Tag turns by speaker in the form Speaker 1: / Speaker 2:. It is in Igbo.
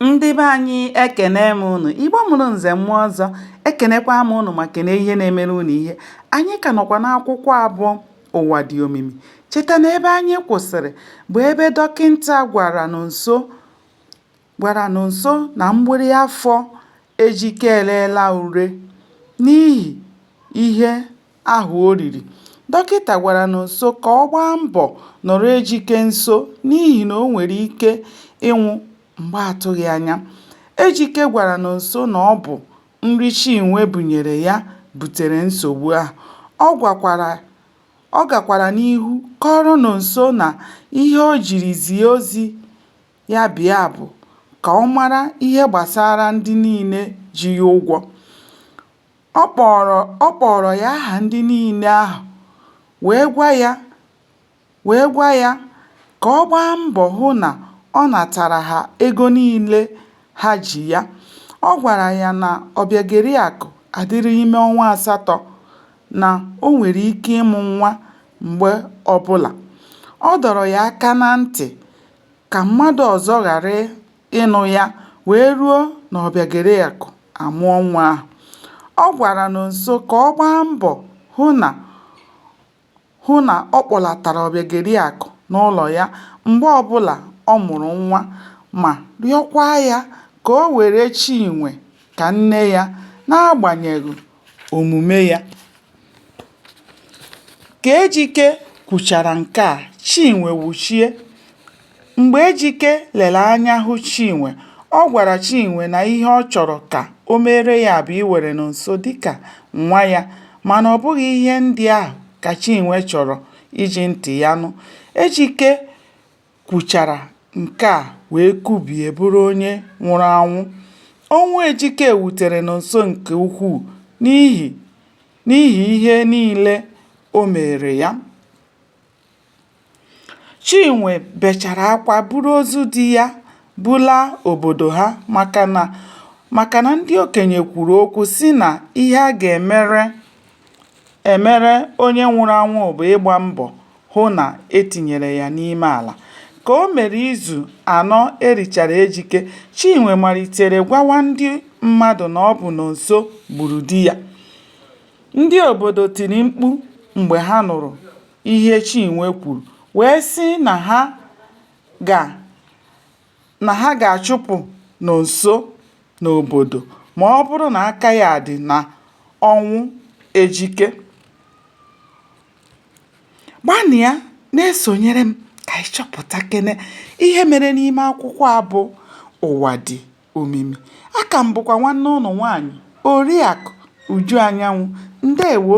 Speaker 1: ndị be anyị ekene m ụnụ igbo mụrụ nze mụọ ọzọ ekenekwa m ụnụ ma kene ihe na-emere ụnụ ihe anyị ka nọkwa n'akwụkwọ a bụ ụwa dị omimi cheta na ebe anyị kwụsịrị bụ ebe dọkịnta gwara nonso na mgbịrị afọ ejike eleela ure n'ihi ihe ahụ o riri. Dọkịta gwara Nonso ka ọ gbaa mbọ nọrọ Ejike nso n'ihi na o nwere ike ịnwụ mgbe atụghị anya. Ejike gwara Nonso na ọ bụ nri Chinwe bunyere ya butere nsogbu ahụ. Ọ gakwara n'ihu kọọrọ Nonso na ihe o jiri zie ozi ya bịa bụ ka ọ mara ihe gbasara ndị niile ji ya ụgwọ. Ọ kpọọrọ ya aha ndị niile ahụ wee gwa ya ka ọ gbaa mbọ hụ na ọ natara ha ego niile ha ji ya. Ọ gwara ya na Ọbịageriakụ adịrị ime ọnwa asatọ, na o nwere ike ịmụ nwa mgbe ọbụla. Ọ dọrọ ya aka na ntị ka mmadụ ọzọ ghara ịnụ ya wee ruo na Ọbịageriakụ amụọ nwa ahụ. Ọ gwara Nonso ka ọ gbaa mbọ hụ na ọ kpọlatara Ọbịageriakụ n'ụlọ ya mgbe ọbụla ọ mụrụ nwa ma rịọkwa ya ka o were Chinwe ka nne ya n'agbanyeghị omume ya. Ka Ejike kwuchara nke a, Chinwe wuchie. Mgbe Ejike lere anya hụ Chinwe, ọ gwara Chinwe na ihe ọ chọrọ ka o meere ya bụ iwere Nonso dịka nwa ya mana ọ bụghị ihe ndị ahụ ka Chinwe chọrọ iji ntị ya nụ. Ejike kwuchara nke a wee kubie bụrụ onye nwụrụ anwụ. Ọnwụ Ejike wutere Nonso nke ukwuu n'ihi ihe niile o meere ya. Chinwe bechara akwa buru ozu di ya bulaa obodo ha maka na ndị okenye kwuru okwu sị na ihe a ga-emere Emere onye nwụrụ anwụ bụ ịgba mbọ hụ na e tinyere ya n'ime ala. Ka o mere izu anọ e richara Ejike, Chinwe malitere gwawa ndị mmadụ na ọ bụ Nonso gburu di ya. Ndị obodo tiri mkpu mgbe ha nụrụ ihe Chinwe kwuru wee sị na ha ga na ha ga-achụpụ Nonso n'obodo ma ọ bụrụ na aka ya dị na ọnwụ Ejike. Gbanịa na-esonyere m ka anyị chọpụtakene ihe mere n'ime akwụkwọ a bụ Ụwa Dị Omimi. Aka m bụkwa nwanne ụnụ nwaanyị Oriakụ Uju Anyanwụ. Ndewo!